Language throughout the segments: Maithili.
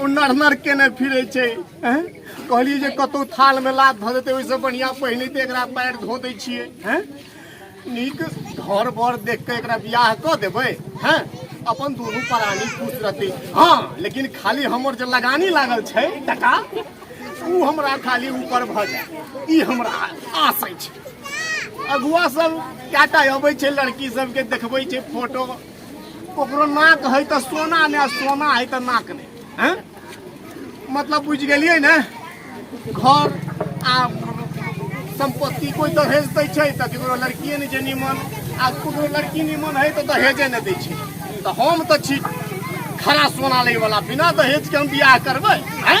ओ नरनर केने फिरे छै हैं? कहलियै जे कतौ थाल में लात धऽ देतै ओहिसँ बढ़िया पहिने तऽ एकरा पैर धो दै छियै हैं? नीक घर बर देख कऽ एकरा बियाह कऽ देबै हैं? अपन दुनू परानी खुश रहतै हँ लेकिन खाली हमर जे लगानी लागल छै टका ओ हमरा खाली ऊपर भऽ जाय ई हमरा आस अछि अगुआ सब कएटा अबै छै लड़की सबके देखबै छै फोटो ओकरो नाक है तो सोना ने सोना है तो नाक ने हैं? मतलब बुझ गेलियै ने घर आ संपत्ति कोई दहेज दै छै तऽ केकरो लड़किए नहि छै निमन आ केकरो लड़की निमन है तऽ दहेजे नहि दै छै तऽ हम तऽ छी खरा सोना लै वाला बिना दहेज के हम बियाह करबै हैं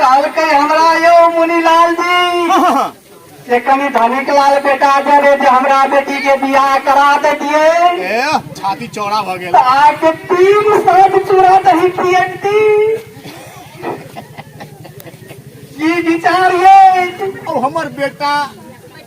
कहलकै हमरा यौ मुनिलाल जी से कनि धनिक लाल बेटा दे रे जे हमरा बेटी के बियाह करा देतिए ए छाती चौड़ा भऽ गेल आके तीन सात चूड़ा दही पियती ई विचार ये ओ हमर बेटा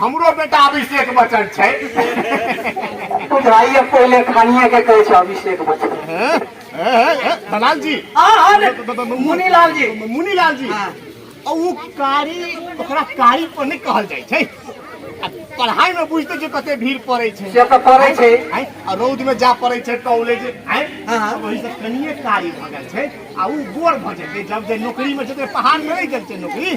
हमरो बेटा अभिषेक बच्चन छै बुझाइए पहिले खानिए के कहै छै अभिषेक बच्चन हैं? हैं, हैं, हैं? दलाल जी हाँ हाँ रे, मुनीलाल जी मुनीलाल जी हाँ। और वो कारी ओकरा कारी पर नहीं कहल जाय छै आ पढ़ाई में बुझते जे कते भीड़ पड़े छै से तऽ पड़ै छै आँय, आ रौद में जा पड़े छै कॉलेज आँय, हाँ, हाँ। वही से कनिए कारी भऽ गेल छै आ ऊ गोर भऽ जेतै जब जे नौकरी में जेतै पहाड़ में रहि गेल छै नौकरी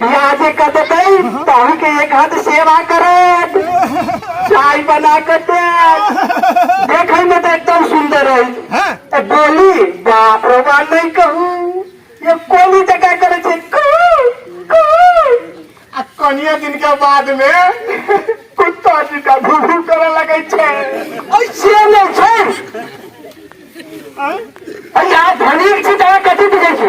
बियाह जे कर देते तहन के एक हाथ सेवा करत चाय बना के देत देखे में तो एकदम सुंदर रही तो बोली बाप रे बा नहीं कहू ये कोनी जगह करे छे कू कू आ कनिया दिन के बाद में कुत्ता जी का भू भू करे लगे छे ऐसे नहीं छे आय? अरे आप धनिक छी तोरा कथी बुझै छी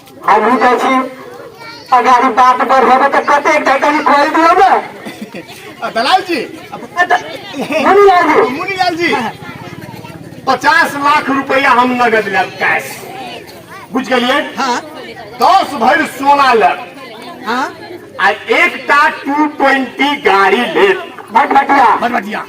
हम भी कहै छी अगर ई बात पर होबे तऽ कते एकटा कनी खोल दियौ ने आ, दलाल जी मुनि लाल जी मुनि लाल जी पचास लाख रुपया हम नगद लेब कैश बुझ गेलिए हाँ दस भर सोना लेब हाँ आ एकटा टू ट्वेंटी गाड़ी लेब भटभटिया बड़ बढ़िया